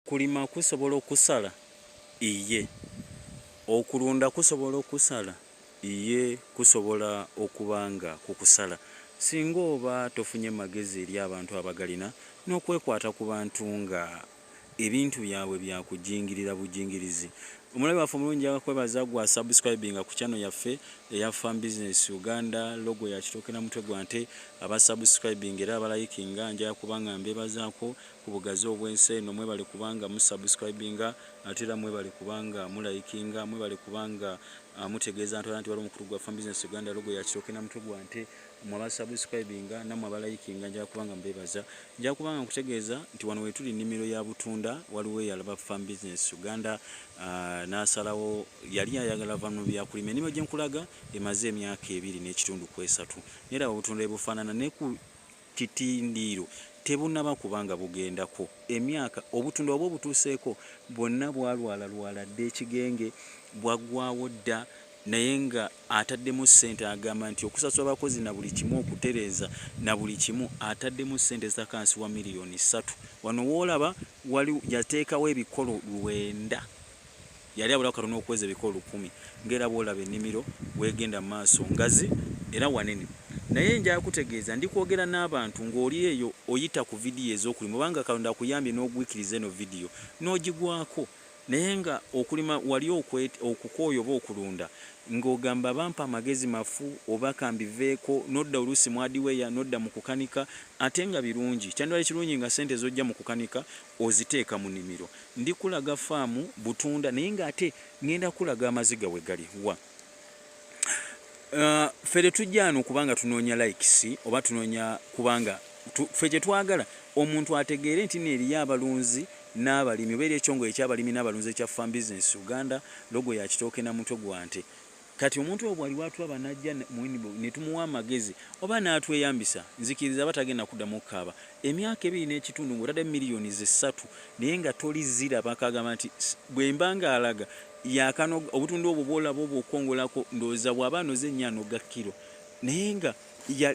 Okulima kusobola okukusala? Iye. Okulunda kusobola okukusala? Iye kusobola okuba nga kukusala singa oba tofunye magezi eri abantu abagalina n'okwekwata ku bantu nga ebintu byabwe bya kujingirira bujingirizi. Omulabi waffe omulungi njagala kwebaza gwa subscribinga ku channel yaffe eya Farm Business Uganda, logo ya kitooke na mutwe gwa nte, aba subscribinga era abalayikinga njagala kuba nga mbeebazaako ku bugazi obwensi eno mwebale kubanga mu subscribinga ate era mwebale kubanga mulayikinga mwebale kubanga uh, mutegeeza ntwala nti waliwo omukulu gwa fam business uganda logo yakitoke na mutwe gwa nte mwe abasubscribinga namwe abalayikinga njala kubanga mbebaza njala kubanga nkutegeeza nti wano wetuli nnimiro ya butunda waliwo eyalaba fam business uganda uh, nasalawo yali ayagala va mu byakulima ennimiro gyenkulaga emaze emyaka ebiri n'ekitundu kwesatu neera obutunda ebufaanana neku Titindiiro tebunaba kuba nga bugendako emyaka, obutunda waba obutuuseeko bwonna bwalwalalwala dda ekigenge, bwaggwaawo dda naye nga ataddemu ssente agamba nti okusasula abakozi na buli kimu okutereeza na buli kimu ataddemu ssente ezitakansi wa miriyoni ssatu. Wano w'olaba wali yateekawo ebikolo lwenda. Yali abulawo katono okuweza ebika olukumi. Ng'era bw'olaba ennimiro w'egenda mu maaso, ngazi era wanene. Naye nja kutegeeza, ndi kwogera n'abantu ng'oli eyo oyita ku vidiyo ez'okulima, oba nga Katonda akuyambye n'ogwikiriza eno vidiyo, n'ogigwako, naye nga okulima wali okwet, okukooye oba okulunda, ng'ogamba, Bampa amagezi mafu, oba ka mbiveeko, n'odda oluusi mu adiweya, n'odda mu kukanika, ate nga birungi. Kyandibadde kirungi nga ssente z'oggya mu kukanika Oziteeka mu nimiro. Ndi kulaga faamu butunda naye nga ate ngenda kulaga amaziga we gali. Wa. Uh, fe tetujja ano kubanga tunoonya likes oba tunoonya kubanga tu, fe kyetwagala omuntu ategeere nti neeriyo abalunzi n'abalimi oba eri ekyongole ekyabalimi n'abalunzi ekya farm business uganda logo ya kitooke na mutwe gwa nte Kati omuntu oyo bwaliwo atulaba najja mu inbox ne tumuwa amagezi oba n'atweyambisa, nzikiriza aba tagenda kuddamu kukaaba. Emyaka ebiri n'ekitundu ng'otadde miliyoni ze ssatu naye nga toli ziraba k'agamba nti bwe mba ng'alaga yaakanoga obutunda obwo bw'olaba obwo okukongolako ndowooza bw'aba anoze nnyo anoga kkiro naye nga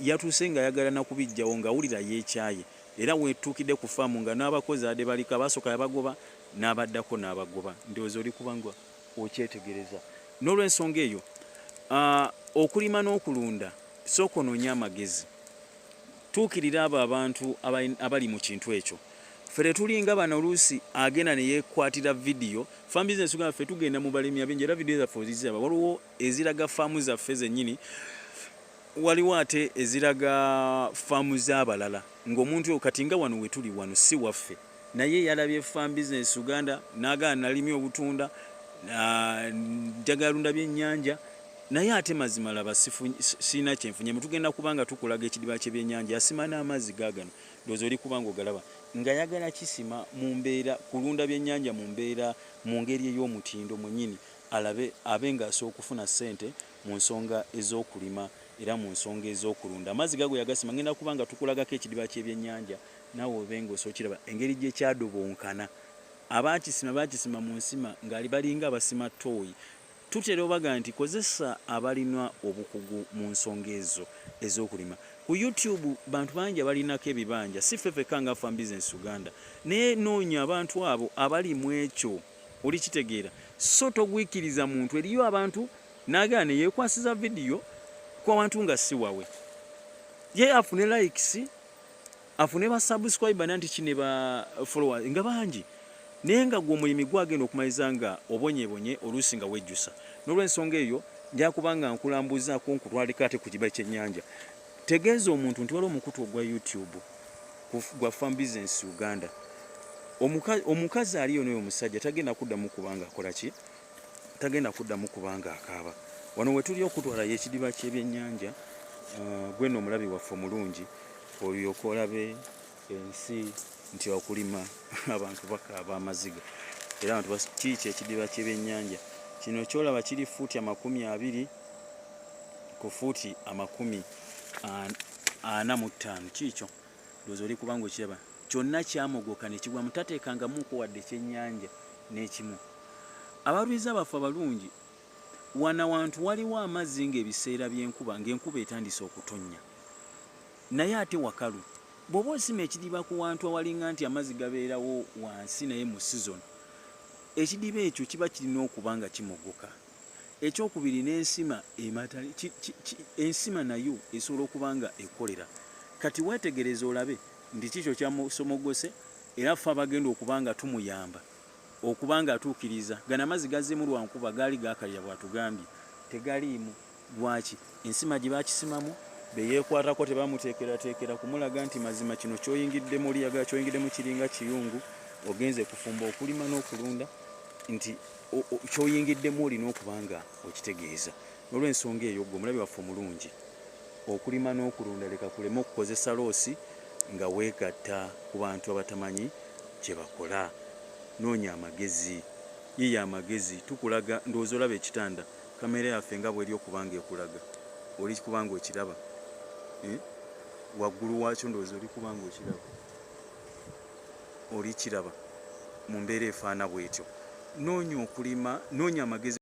yatuuse ng'ayagala na kubiggyawo ng'awulira yeekyaye era weetuukidde ku faamu nga n'abakozi abadde baliko abasooka yabagoba n'abaddako n'abagoba ndowooza oli kubangwa. okyetegereza n'olwensonga eyo uh, okulima n'okulunda sooka onoonya amagezi tuukirira abo abantu abali mu kintu ekyo ffe tetulinga bano oluusi agenda neyekwatira vidiyo fam business uganda ffe tugenda mu balimi abingi era vidiyo zaffe ozizaba waliwo eziraga faamu zaffe zenyini waliwo ate eziraga faamu z'abalala ng'omuntu oyo kati nga wano wetuli wano si waffe Naye yalabye farm business Uganda nagala nalimye obutunda njagala lunda byennyanja naye ate mazima laba sirina kyenfunye mutugenda kubanga tukulaga ekidiba kyebyennyanja yasima n'amazzi gagano ndowooza oli kubanga ogalaba nga yagala kisima mu mbeera kulunda byennyanja mu mbeera mu ngeri ey'omutindo mwenyini alabe abe ng'asobola okufuna ssente mu nsonga ez'okulima era mu nsonga ez'okulunda amazzi gago yagasima ngenda kubanga tukulagako ekidiba kyebyennyanja Nawe obenga osokiraba engeri gyekyadobonkana abakisima bakisima munsima ngali balinga abasima tooyi tutera obaga nti kozesa abalina obukugu munsonga ezo ezokulima ku youtube bantu bangi abalinako ebibanja si ffe fekka nga farm business uganda naye noonya abantu abo abali mu ekyo oli kitegeera so togwikiriza muntu eriyo abantu nagera neyekwasiza vidiyo kwabantu nga siwawe ye afune likes afune ba subscriber nanti kine ba followers nga bangi naye nga gwo mulimi gwagenda okumaliza nga obonyebonye oluusi nga wejjusa n'olwensonga eyo njakubanga nkulambuzaako nkutwalika ate ku kibali kyennyanja tegeeza omuntu nti waliwo omukutu ogwa youtube gwa farm business uganda omukazi aliyo noyo omusajja tagenda kuddamu kubanga akolaki tagenda kuddamu kubanga akaaba wano wetuli okutwala yekidiba kyebyenyanja uh, gwena omulabi waffe omulungi olyoka olabe ensi nti okulima abantu bakaaba amaziga era abantu kiiki ekidiba kyebyenyanja kino kyolaba kiri fuuti amakumi abiri ku fuuti amakumi ana mu ttaano kiikyo ndowooza oli kubanga okiraba kyonna kyamogoka ne kigwamu, tateekangamuuko wadde ekyennyanja n'ekimu. Abalwiza baffe abalungi, wano awantu waliwo amazzi ng'ebiseera by'enkuba, ng'enkuba etandise okutonnya. Naye ate wakalu. Bw'oba osima ekidiba ku wantu awalinga nti amazzi gabeerawo wansi naye mu sizoni, ekidiba ekyo kiba kirina okuba nga kimogoka. Ekyokubiri n'ensima emata, ensima nayo esobola okuba nga ekolera. Kati weetegereze olabe. nti kikyo kyamusomogose era ffe abagenda okuba nga tumuyamba okuba nga atuukiriza gano amazzi gazzemu lwankuba gaali gakalira bwatugambye tegaliimu lwaki ensima gye bakisimamu beyekwatako tebamuteekerateekera kumulaga nti mazima kino kyoyingidde muliyaga kyoyingiddemu kiringa kiyungu ogenze kufumba okulima n'okulunda nti kyoyingiddemu olina okuba nga okitegeeza nolwensonga eyo gwe omulabi waffe omulungi Okulima n'okulunda leka kuleme okukozesa loosi nga weegatta ku bantu abatamanyi kye bakola. Noonya amagezi. Yiiya amagezi. Tukulaga, ndowooza olaba ekitanda, kkamera yaffe nga bw'eri okuba nga ekulaga. Oli kuba nga okiraba? Eeh? Waggulu waakyo ndowooza oli kuba nga okiraba. Olikiraba mu mbeera efaana bw'etyo. Noonya okulima, noonya amagezi.